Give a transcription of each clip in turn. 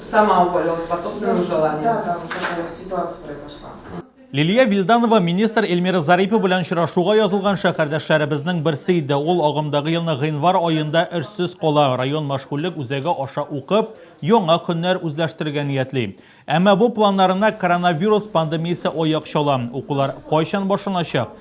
Сама упалила, способствовала желанию. Да, там такая ситуация произошла. Лилия Вильданова министр Эльмира Зарипова белән очрашуга язылган шәһәрдәшләребезнең берсе иде. Ул агымдагы елның гыйнвар аенда эшсез кала, район мәшгульлек үзәге аша укып, яңа хөннәр үзләштерергә ниятли. Әмма бу планнарына коронавирус пандемиясе аяк чала. Укулар кайчан башланачак?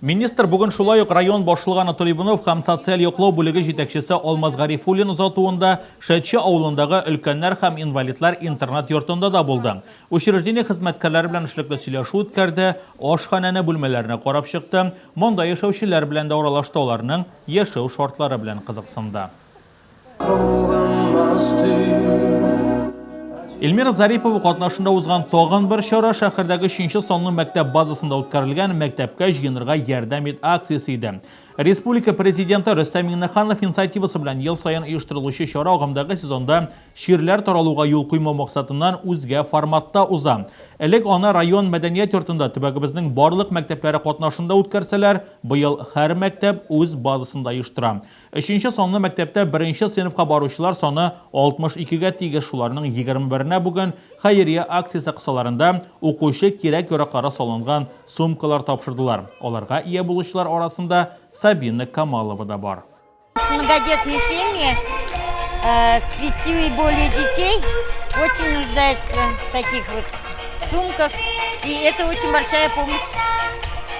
Министр бүген шулай ук район башлыгы Анатолий Иванов һәм социаль яклау бүлеге җитәкчесе Алмаз Гарифуллин озатуында Шәче авылындагы өлкәннәр һәм инвалидлар интернат-йортында да булды. Учреждение хезмәткәрләре белән эшлекле сөйләшү үткәрде, ашханәне, бүлмәләрне карап чыкты, монда яшәүчеләр белән дә аралашты, аларның яшәү шартлары белән кызыксынды. Эльмира Зарипова катнашында узган тагын бер чара шәһәрдәге 3 санлы мәктәп базасында үткәрелгән мәктәпкә җыенырга ярдәм ит акциясе иде. Республика президенты Рөстәм Миңнеханов инициативасы белән ел саен оештырылучы чара агымдагы сезонда чирләр таралуга юл куймау максатыннан үзгә форматта уза. Элек аны район мәдәният йортында төбәгебезнең барлык мәктәпләре катнашында үткәрсәләр, быел һәр мәктәп үз базасында оештыра. Өченче санлы мәктәптә беренче сыйныфка баручылар саны 62 гә тигез, шуларның 21 нә бүген хәйрия акциясе кысаларында укучы кирәк-яраклары салынган сумкалар тапшырдылар, аларга ия булучылар арасында Сабина Камалова да бар. Многодетные семьи с пятью и более детей очень нуждаются в таких вот сумках и это очень большая помощь.